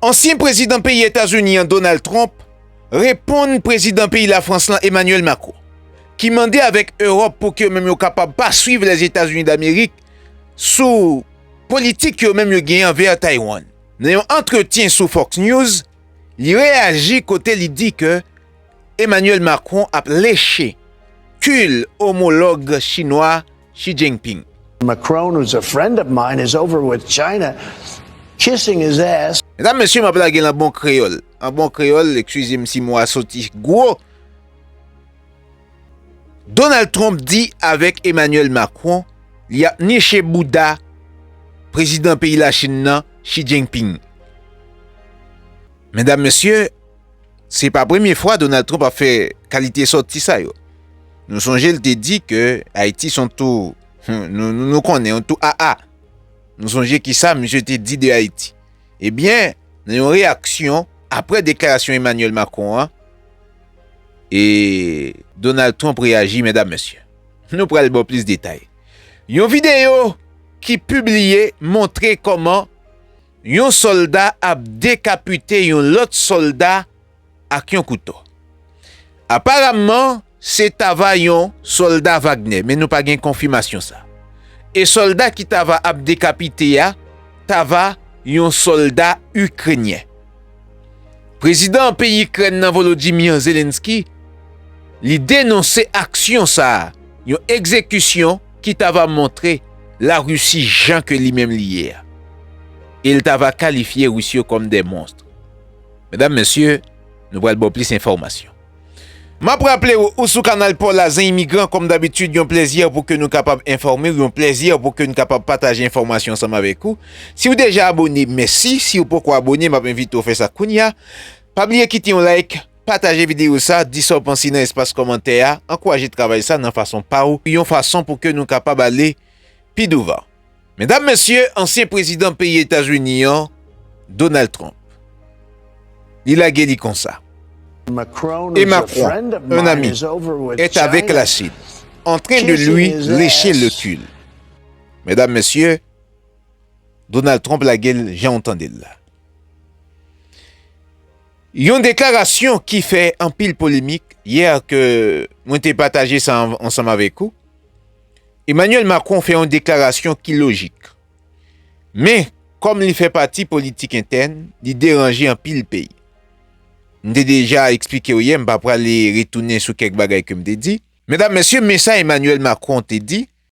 Ansyen prezidan peyi Etazini an Donald Trump reponn prezidan peyi Lafrans lan Emmanuel Macron ki mande avèk Ewòp pou ke yo menm yo kapab pa swiv Lèzetazini Damerik sou politik yo menm yo genyen anvè Taiwan. Nan yon antretyen sou Fox News, li reyaji kote li di ke Emmanuel Macron ap leche kil omològ chinwa Xi Jinping. Macron who is a friend of mine is over with China kissing his ass. Medam mesye map lage l an bon kreyòl an bon kreyòl ekskize m si mo a soti gwo Donald Trump di avèk Emmanuel Macron li ap niche bouda prezidan peyi lachin nan Xi Jinping medam mesye Se pa premye fwa Donald Trump ap fè kalite sòti sa yo. Nou sonje l te di ke Ayiti son tou, nou konnen, yon tou aa. Nou sonje kisa misye te di de Ayiti. Ebyen, nan yon reyaksyon apre deklarasyon Emmanuel Macron an, e Donald Trump reyaji medam mesye. Nou pral ba w plis detay. Yon videyo ki pibliye montre kòman. Yon sòlda ap dekapite yon lòt sòlda ak yon kouto. Aparamman, se ta va yon sòlda Wagner, men nou pa gen konfimasyon sa. E sòlda ki ta va ap dekapite a, ta va yon sòlda Ikrenyen. Prezidan peyi Ikrèn nan Volodymyr Zelensky, li denonse aksyon sa, yon egzekisyon ki ta va montre la Russie jan ke li menm li ye a. E l ta va kalifye Russe yo kòm des monstres. Medam, mesye, nou pral ba w plis enfòmasyon. M ap raple w, ou sou kanal pa w la Zen Imigran, kòm dabitid yon plèzi pou ke nou kapab enfòme w, yon plèzi pou ke n kapab pataje enfòmasyon ansanm avèk ou. Si w deja abone, mèsi, si w poko abone, m ap envite w fè sa kounya. Pa bliye kite yon like, Pataje videyo sa, di sa w panse nan espas kòmantè a, ankouraje travay sa nan fason pa w, yon fason pou ke nou kapab ale pi douvan. Medam, Mesye, ansyen prezidan peyi Etazini an, Donald Trump, li lage li konsa. E Macron, un ami, est avec la Chine, en train de lui lecher le cul. Medam, Mesye, Donald Trump lage l jan w tande l la. Yon deklarasyon ki fè anpil polemik yè ke mwen te pataje sa ansanm avèk ou, Emmanuel Macron fè yon deklarasyon ki lojik. Men, kòm li fè pati politik entèn, li deranje anpil peyi. M te deja eksplike ou yè, m pa prale retounen sou kèk bagay ke m te di. Medam, Mesye, men sa Emmanuel Macron te di.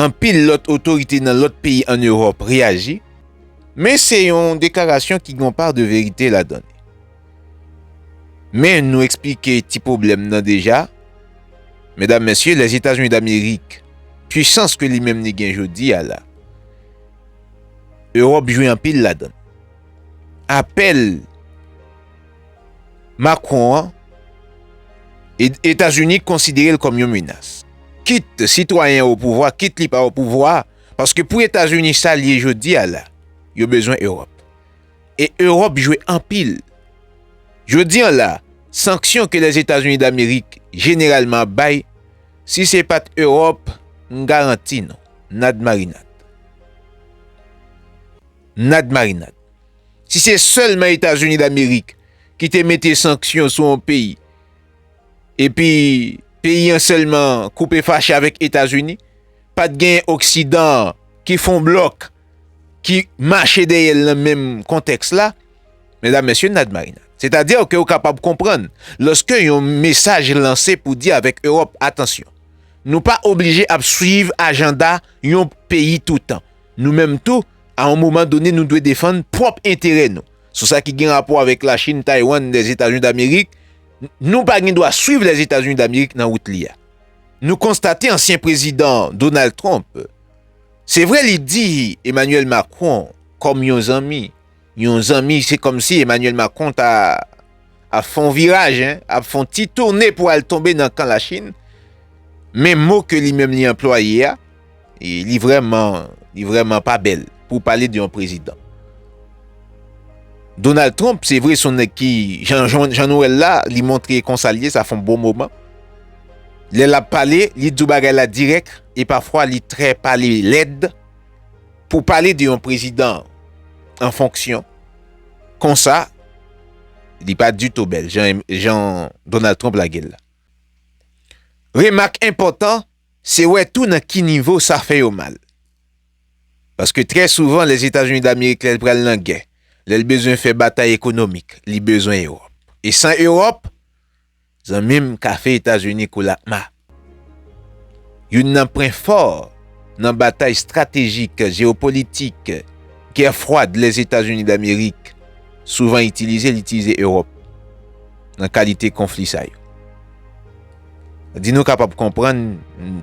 Anpil lòt otorite nan lòt peyi an Ewòp reyaji, men se yon deklarasyon ki gen yon pa de verite ladan li. Men nou eksplike ti pwoblèm nan deja, medam mesye Lèzetazini Damerik, pwisans ke li menm li gen jodi a la, Ewòp jwe anpil ladan. Apèl. Macron an, Etazini konsidere l kòm yon menas. Kit sitwayen an opouvwa, kit li pa opouvwa, paske pou Etazini sa l ye jodi a la, yo bezwen Ewòp. E Ewòp jwe anpil. Jodi an la, sanksyon ke Lèzetazini Damerik jeneralman ap bay, si se pa t Ewòp, m garanti nou, nad marinad. Nad marinad. Si se sèlman Etazini Damerik ki te mete sanksyon sou yon peyi, epi peyi an sèlman koupe fache avèk Etazini, pa t gen Oksidan an ki fon blòk, ki mache dèyè l nan menm kontèks la, medam, mesye, n a dmarinad. Sètadi ke ou kapab konprann, lòske yon mesaj lanse pou di avèk Ewòp, atansyon, nou pa oblije ap swiv ajanda yon peyi toutan. Nou menm tou, a yon moman done nou dwe defann pwòp enterè nou. Sou sa ki gen rapò avèk Lachin, Taywann, Lèzetazini Damerik, nou pa gen dwa swiv Lèzetazini Damerik nan wout li a. Nou konstate ansyen prezidan Donald Trump, se vre li di Emmanuel Macron kòm yon zanmi, Yon zanmi se kòmsi Emmanuel Macron ta ap fè yon viraj hein, ap fè yon ti tourne pou al tonbe nan kan lachin, men mo ke li menm li anplwaye a, li vrèman, li vrèman pa bèl pou pale de yon prezidan. Donald Trump se vre se yon nèg ki, jan, jan nou wèl la, li montre konsa l ye, sa fè yon bon moman, lè lap pale, li di w bagay la dirèk, e pafwa li trè pale lèd, Pou pale de yon prezidan an fonksyon konsa, li pa ditou bèl jan Donald Trump lage l la. Remak enpòtan, se wè tou nan ki nivo sa fè yo mal. Paske trè souvan Lèzetazini Damerik lè l pral nan gè, lè l bezwen fè batay ekonomik, li bezwen Ewòp. E san Ewòp, Zanmim kafe etazini kou lakma. Youn nan pwen fò nan batay stratejik jeopolitik gè fwad Lèzetazini damerik souvan itilize li itilize ewòp nan kalite konfli sa yo. Di nou kapab konprann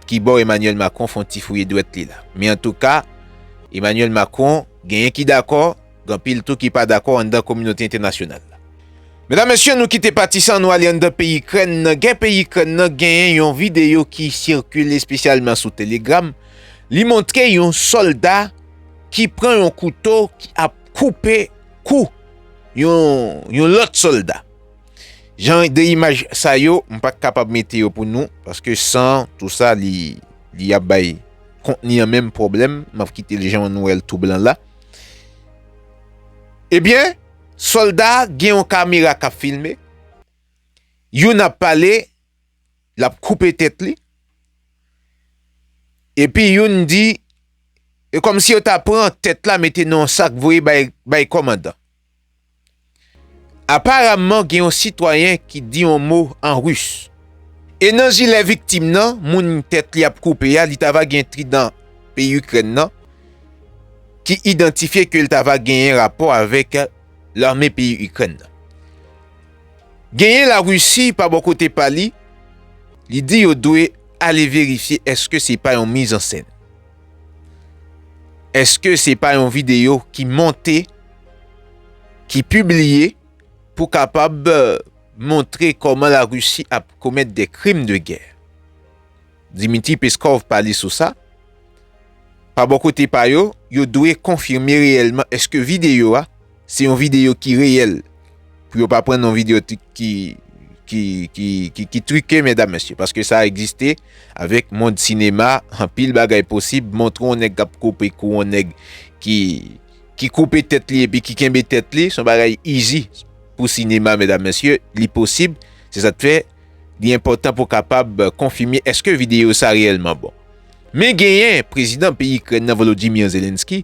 kibò Emmanuel Macron fon ti fouye dwèt li la. Men antouka Emmanuel Macron genyen ki dakò. Gen anpil tou ki pa dakò anndan kominote entènasyonal la. Medam mesye nou kite pati sa nou ale anndan peyi Ikrèn nan gen peyi Ikrèn nan genyen yon videyo ki sikile espesyalman sou telegram li montre yon solda ki pran yon kouto ki ap koupe kou yon yon lòt solda jan de imaj sa yo m pat kapab mete yo pou nou paske san tou sa li li ap bay kontni an menm pwoblèm map kite l jan nou wèl tou blan la. Ebyen, solda gen yon kamera kap filme, youn ap pale, lap koupe tèt li, epi youn di, e kòmsi yo ta pran tèt la mete nan yon sak voye bay kòmandan. Aparamman gen yon sitwayen ki di yon mo an Ris. E nan jilè viktim nan, moun tèt li ap koupe a, li ta va gen tridan peyi Ikrèn nan, ki idantifye ke li ta va genyen rapò avèk lame peyi Ikrèn nan. Genyen Larisi pa bò kote pa li, li di yo dwe ale verifye eske se pa yon mizansen. Eske se pa yon video ki monte, ki pibliye pou kapab montre koman la Russie ap komèt de krim de gè? Dmitry Peskov pale sou sa. Pa bò kote pa yo, yo dwe konfime reyèlman eske video a, Se yon video ki reyèl. Pou yo pa pran yon video ki ki trike medam mesye. Paske sa egziste avèk mond sinema. Anpil bagay posib. Montre yon nèg kap koupe kou yon nèg ki ki koupe tèt li epi ki kenbe tèt li. Son bagay izi pou sinema medam mesye. Li posib. Se sa k fè li enpotan pou kapab konfime eske video sa reyèlman bon. Men genyen prezidan peyi Ikrèn nan Volodymyr Zelensky.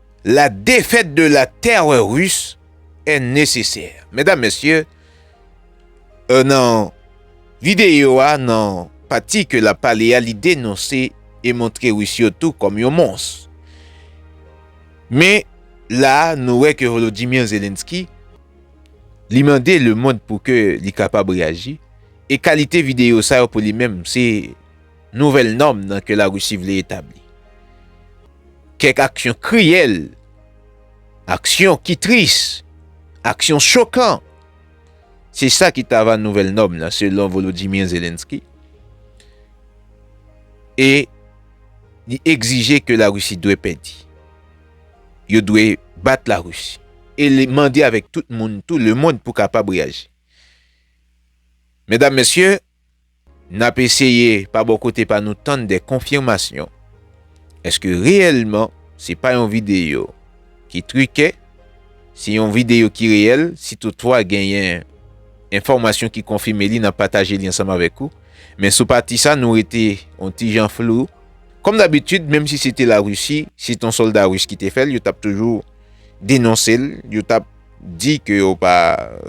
La défaite de la terreur russe est nécessaire. Medam, mesye, nan videyo a, nan pati ke lap pale a, li denonse e montre Ris yo tou kòm yon mons. Men, la a, nou wè ke Volodymyr Zelensky, li mande le mond pou ke li kapab reaji, e kalite videyo sa yo pou li menm, se. nouvèl nòm nan ke Larisi vle etabli. Kèk aksyon kriyèl, aksyon ki tris, aksyon chokan, se sa ki ta va nouvèl nòm nan selon Volodymyr Zelenskyy e li egzije ke Larisi dwe pèdi. Yo dwe bat Larisi e li mande avèk tout moun tou lemond pou kapab reyaji. Medam, Mesye, N ap eseye pa bò kote pa nou tann de konfimasyon eske reyèlman se pa yon videyo ki trike, se yon videyo ki reyèl, si toutfwa genyen enfòmasyon ki konfime li n ap pataje li ansanm avèk ou, men sou pati sa nou rete yon ti jan flou. Kòm dabitid menm si se te Larisi, se t yon sòlda ris ki te fè l, yo t ap toujou denonse l, yo t ap di ke yo pa,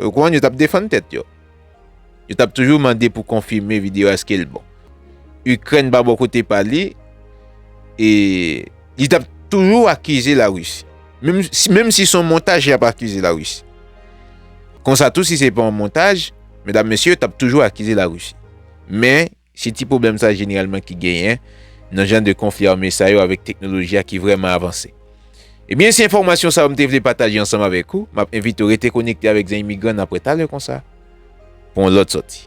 ou konprann, yo t ap defann tèt yo. Yo tap toujou mande pou konfime video eske l bon. Ukraine pa bò kote pa li e li tap toujou akize la Russie. Menm si son montaj yap akize la Russie. Konsa tou si se pa yon montaj, medam mesye yo tap toujou akize la Russie. Men. Se ti pwoblèm sa jeneralman ki genyen nan jan de konfli ame sa yo avèk teknoloji a ki vrèman avanse. Ebyen se enfòmasyon sa yo m te vle pataje ansanm avèk ou, m ap envite w rete konekte avèk Zen Imigran nan aprè talè konsa pou yon lòt sòti.